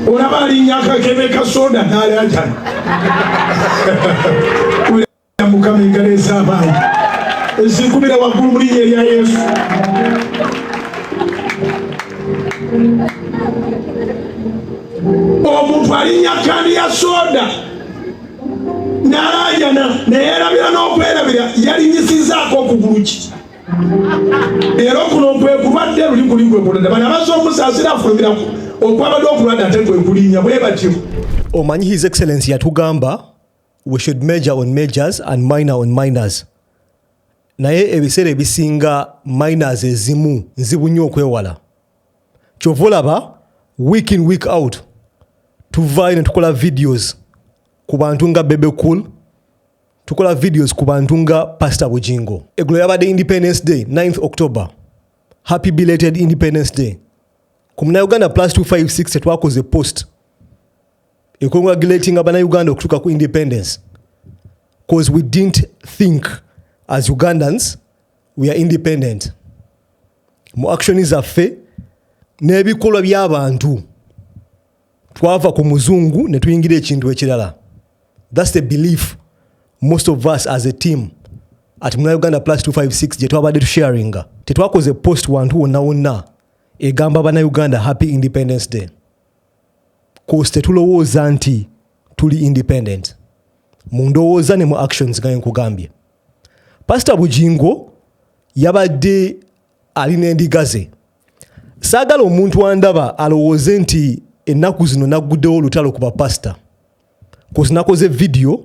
olaba alinya akakebe ka soda nalaajana mukama engalo ez'abantu ezinkubira waggulu mu linnya erya yesu omuntu alinya kandi ya soda nalaajana naye erabira n'okwerabira yalinyisizaako okugulu ki era okuno nkwekubadde luli kuli nkwekubadde bana baza okusaasira afulumirako okwabadde okulwadde ate kwekulinya bwe batyo omanyi his excellence yatugamba we should major on majors and minor on minors naye ebiseera ebisinga minors ezimu nzibu nnyo okwewala kyova olaba week in week out tuvaayo ne tukola videos ku bantu nga bebe cool tukola videos ku bantu nga pastor bujingo egulo yabadde independence day 9th october happy belated independence day ku munauganda plus 256 tetwakoze post econgratulating abanauganda okutuuka ku independence bcause we didn't think as ugandans we are independent mu action zaffe n'ebikolwa by'abantu twava ku muzungu ne tuyingira ekintu ekirala thats the belief most of us as a team at muna uganda plus 256 gye twabadde tusharinga tetwakoze post wantu wonna wonna egamba bana uganda happy independence day kosi tetulowooza nti tuli independent mu ndowooza ne mu actions gaye nkugambye pasita bujingo yabadde ali n'endiga ze saagala omuntu andaba alowooze nti ennaku zino nagguddewo olutalo ku bapasita kozi nakoze vidiyo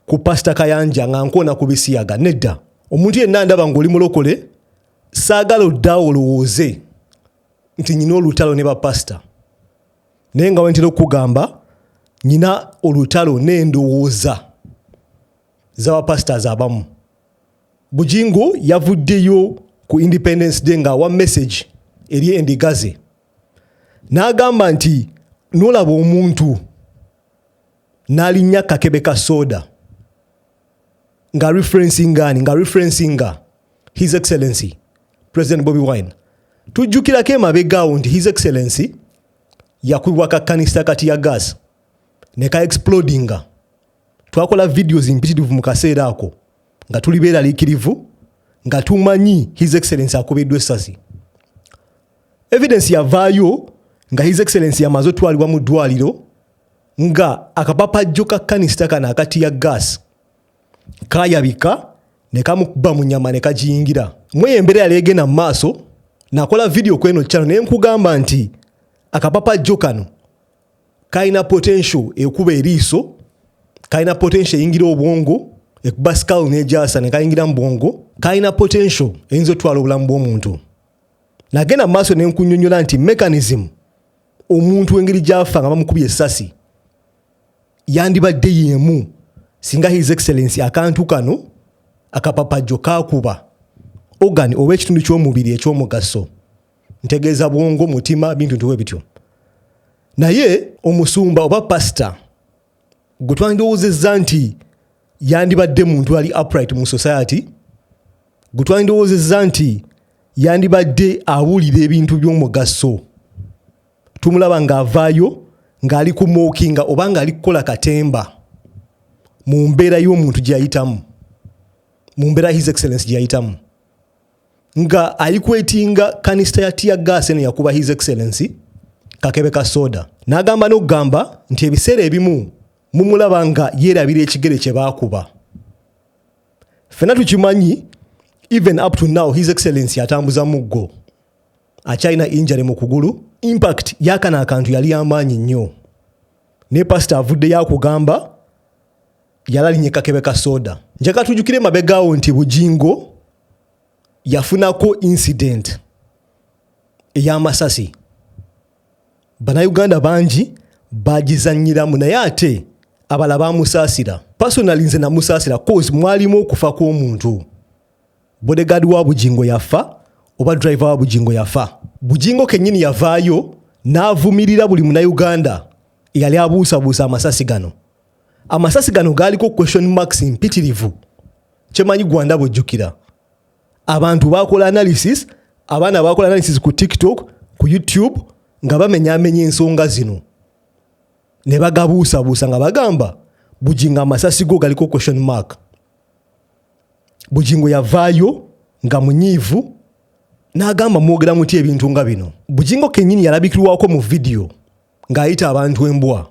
ku pasita kayanja nga nkoona ku bisiyaga nedda omuntu yenna ndaba ngaoli mulokole saagala odda olowooze nti nyina olutalo ne bapasita naye nga wentera okukugamba nyina olutalo n'endowooza zabapasita zabamu bujingo yavuddeyo ku independence day ng'awa message eri endigaze n'agamba nti nolaba omuntu n'alinnya kakebe ka soda nga referencingani nga referencinga his excellency president bobi wine tujjukirako emabegaawo nti his excellency yakubibwa kakkanisa kati ya gas ne ka explodinga twakola videos mpitirivu mu kaseera ako nga tuli beeraliikirivu nga tumanyi his excellence akubiddwa essasi evidence yavaayo nga his excellence yamaze otwalibwa mu ddwaliro nga akapapajjo ka kanisita kano akati ya gas kayabika ne kamukuba mu nyama ne kagiyingira mweyo embeera yali egenda mu maaso nakola vidiyo kweno kyano naye nkugamba nti akapapajjo kano kalina potential ekuba eriiso kalina potential eyingira obwongo ekuba skull nejasa nekayingira mubwongo kalina potential eyinza otwala obulamu bwomuntu nagenda mumaaso nenkunyonyola nti mechanism omuntu engeri gyafa nga bamukubi esasi yandibadde yemu singa his excellence akantu kano akapapajjo kakuba ogan oba ekitundu kyomubiri ekyomugaso ntegeeza bwongo mutima bintu ntiwe bityo naye omusumba oba pasita gwe twandirowoozezza nti yandibadde muntu ali upright mu society gwe twandirowoozezza nti yandibadde awulira ebintu by'omugaso tumulaba ng'avaayo ng'ali ku mookinga oba ng'ali kukola katemba mu mbeera y'omuntu gyeyayitamu mu mbeera his excellence gyeyayitamu nga ayikwetinga kanisita ya tiya gas eno yakuba his excellency kakebe ka soda n'agamba n'okugamba nti ebiseera ebimu mumulaba nga yeerabira ekigere kye baakuba fena tukimanyi even up to now his excellency atambuza muggo akyalina injare mu kugulu impact yakana akantu yali yamaanyi nnyo ne pasita avuddeyo akugamba yalalinye kakebe ka soda njagala tujukire mabegawo nti bujingo yafunako incident eyamasasi banauganda bangi bagizanyiramu naye ate abala bamusaasira personali nze namusaasira cause mwalimu okufa kw'omuntu bodegadi wa bujingo yafa oba driver wa bujingo yafa bujingo kenyini yavaayo n'avumirira buli munauganda eyali abuusabuusa amasasi gano amasasi gano gaaliko question marks mpitirivu kyemanyi gwanda bwejjukira abantu bakola analysis abaana bakola analysis ku tiktok ku youtube nga bamenyamenya ensonga zino ne bagabuusabuusa nga bagamba bujingo amasasi go galiko question mark bujingo yavaayo nga munyiivu n'agamba mwogera muti ebintu nga bino bujingo kennyini yalabikirwako mu vidiyo ng'ayita abantu embwa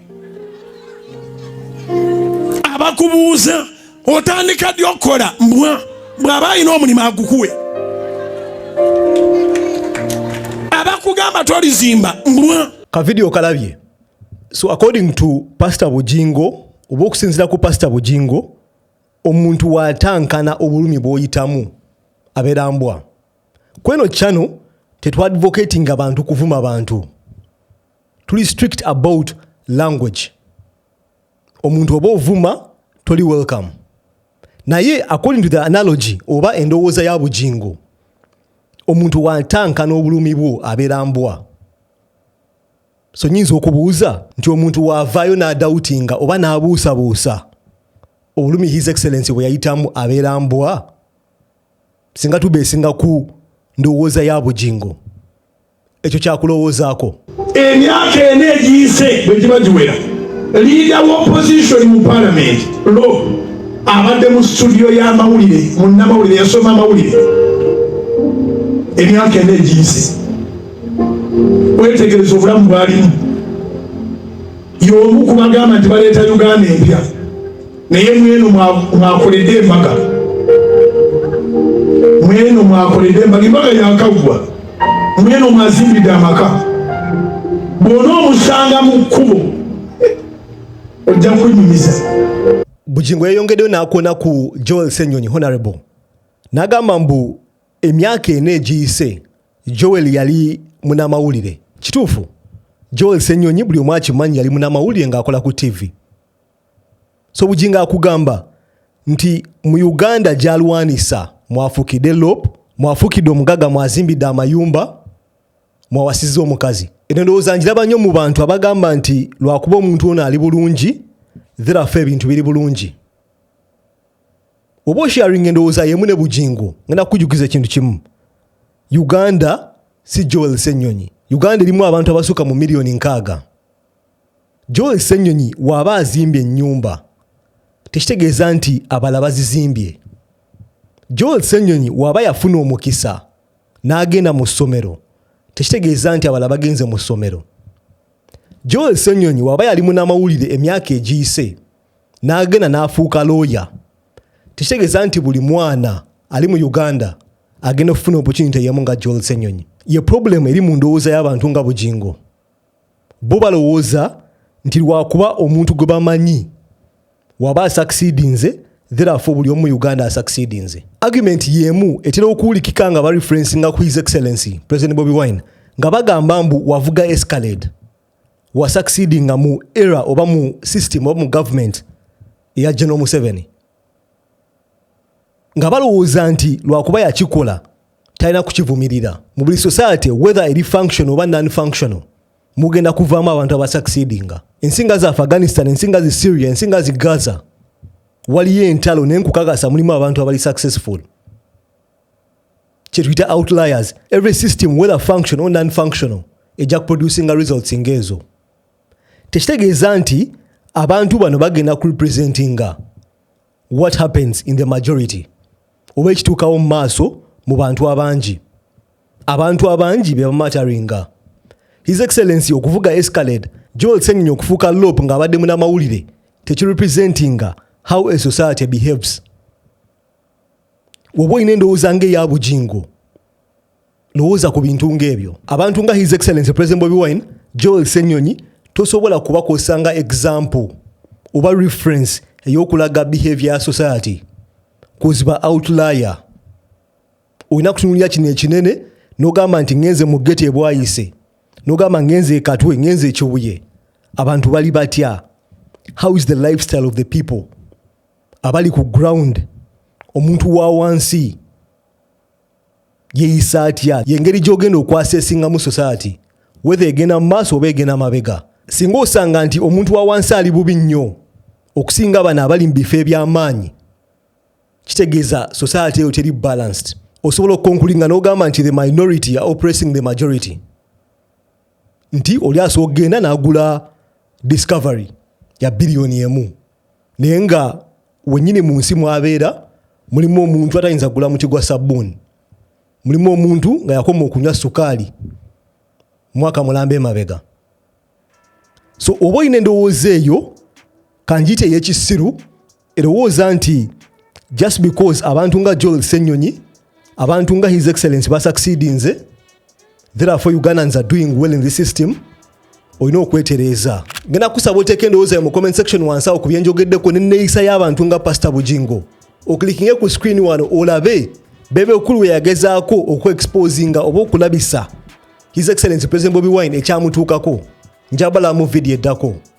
abakubuuza otandika ddi okukola mbwa bw'aba alina omulimu agukuwe abakugamba tolizimba mbwa kavidiyo kalabye so according to pastor bujingo oba okusinzira ku pastor bujingo omuntu watankana obulumi bwoyitamu abeera mbwa kweno chano tetwadvocatinga bantu kuvuma bantu tuli strict about language omuntu oba ovuma toli welcome naye according to the analogy oba endowooza ya bujingo omuntu watanka n'obulumi bwo abeera mbwa so nyinza okubuuza nti omuntu waavaayo n'adawutinga oba n'abuusabuusa obulumi his excellence bwe yayitamu abeera mbwa singa tubeesinga ku ndowooza ya bujingo ekyo kyakulowoozaako emyaka ena egiyise bwe giba giwera liida wa opposition mu palamenti lo abadde mu situdiyo y'amawulire munnamawulire yasoma amawulire emyaka ena egiyise wetegereza obulamu bwalimu y'omu ku bagamba nti baleeta uganda empya naye mweno mwakoledde embaga mweno mwakoledde embaga embaga yakaggwa mweno mwazimbidde amaka bwona omusanga mu kkubo ojja kwenyumiza bugingo yeyongeddeyo nakuona ku joel senyonyi honorable nagamba mbu emyaka ena egiyise joel yali munamawulire kituufu joel senyonyi buli omu akimanyi yali munamawulire ngaakola ku ttivi so bujinga akugamba nti mu uganda gyalwanisa mwafukide lop mwafukide omugaga mwazimbidde amayumba mwawasiza omukazi eno ndowooza njiraba nnyo mu bantu abagamba nti lwakuba omuntu ono ali bulungi therafe ebintu biri bulungi oba osharing endowooza yemu ne bujingo ngenda kukujukiza ekintu kimu uganda si joel senyonyi uganda erimu abantu abasuka mu miliyoni nkaaga John Ssenyonyi waba azimbye ennyumba tekitegeeza nti abala bazizimbye. John Ssenyonyi waba yafuna omukisa n'agenda mu ssomero tekitegeeza nti abala bagenze mu ssomero. John Ssenyonyi waba yali munamawulire emyaka egiyise n'agenda n'afuuka looya tekitegeeza nti buli mwana ali mu Uganda agenda okufuna opportunity yemu nga John Ssenyonyi. Ye problem eri mu ndowooza y'abantu nga Bugingo. bo balowooza nti lwakuba omuntu gwe bamanyi waba asakisidinze therefore buli omu uganda asakisidinze argument yemu etera okuwulikika nga bareferensi nga ku his excellency president bobi wine nga bagamba mbu wavuga escalade wasakisiding nga mu era oba mu system oba mu government eya general museveni nga balowooza nti lwakuba yakikola talina kukivumirira mu buli society whether eri function oba non functional mugenda kuvaamu abantu abasucceedinga ensi nga za afghanistan ensi nga zi syria ensi nga zi gaza waliyo entalo naye nkukakasa mulimu abantu abali successful kyetuyita outliers every system whether function or non functional ejja kuproducinga results ngaezo tekitegeeza nti abantu bano bagenda kurepresentinga what happens in the majority oba ekituukawo mu maaso mu bantu abangi abantu abangi bebamataringa his excellency okuvuga escalade joel senyonyi okufuuka lop ng'abadde munamawulire tekirepresentinga how a society behaves woba olina endowooza ngaeya bujingo lowooza ku bintu ng'ebyo abantu nga his excellence president bobi wine joel senyonyi tosobola kubakozesa nga example oba reference ey'okulaga behavior ya society kuziba outlier olina kutunulira kino ekinene nogamba nti ngenze mu geti ebwayise nogamba ngenze ekatwe ngenze ekibuye abantu bali batya how is the lifestyle of the people abali ku ground omuntu wa wansi yeyisa atya yengeri gyogenda okwasesingamu society wetha egenda mu maaso oba egenda mabega singa osanga nti omuntu wa wansi ali bubi nnyo okusinga bano abali mu bifo ebyamaanyi kitegeeza society eyo teri balanced osobola okukonkulinga nogamba nti the minority are oppressing the majority nti oli asobola okugenda nagula discovery ya biliyoni emu naye nga wenyini mu nsi mwabeera mulimu omuntu atayinza kugula muti gwa sabbuuni mulimu omuntu nga yakoma okunywa sukaali mwaka mulamba emabega so oba olina endowooza eyo kanjiyita eyekisiru erowooza nti just because abantu nga joel senyonyi abantu nga his excellence basucceedinze therefore ugandans are doing well in this system olina okwetereeza ngenda kusaba oteeka endowooza ya mu comment section wansi awo ku byenjogeddeko nenneeyisa y'abantu nga pasita bujingo oklikinge ku screen wano olabe bebe okulu weyagezaako okuexposinga oba okulabisa his excellence president bobi wine ekyamutuukako njabala mu vidiyo eddako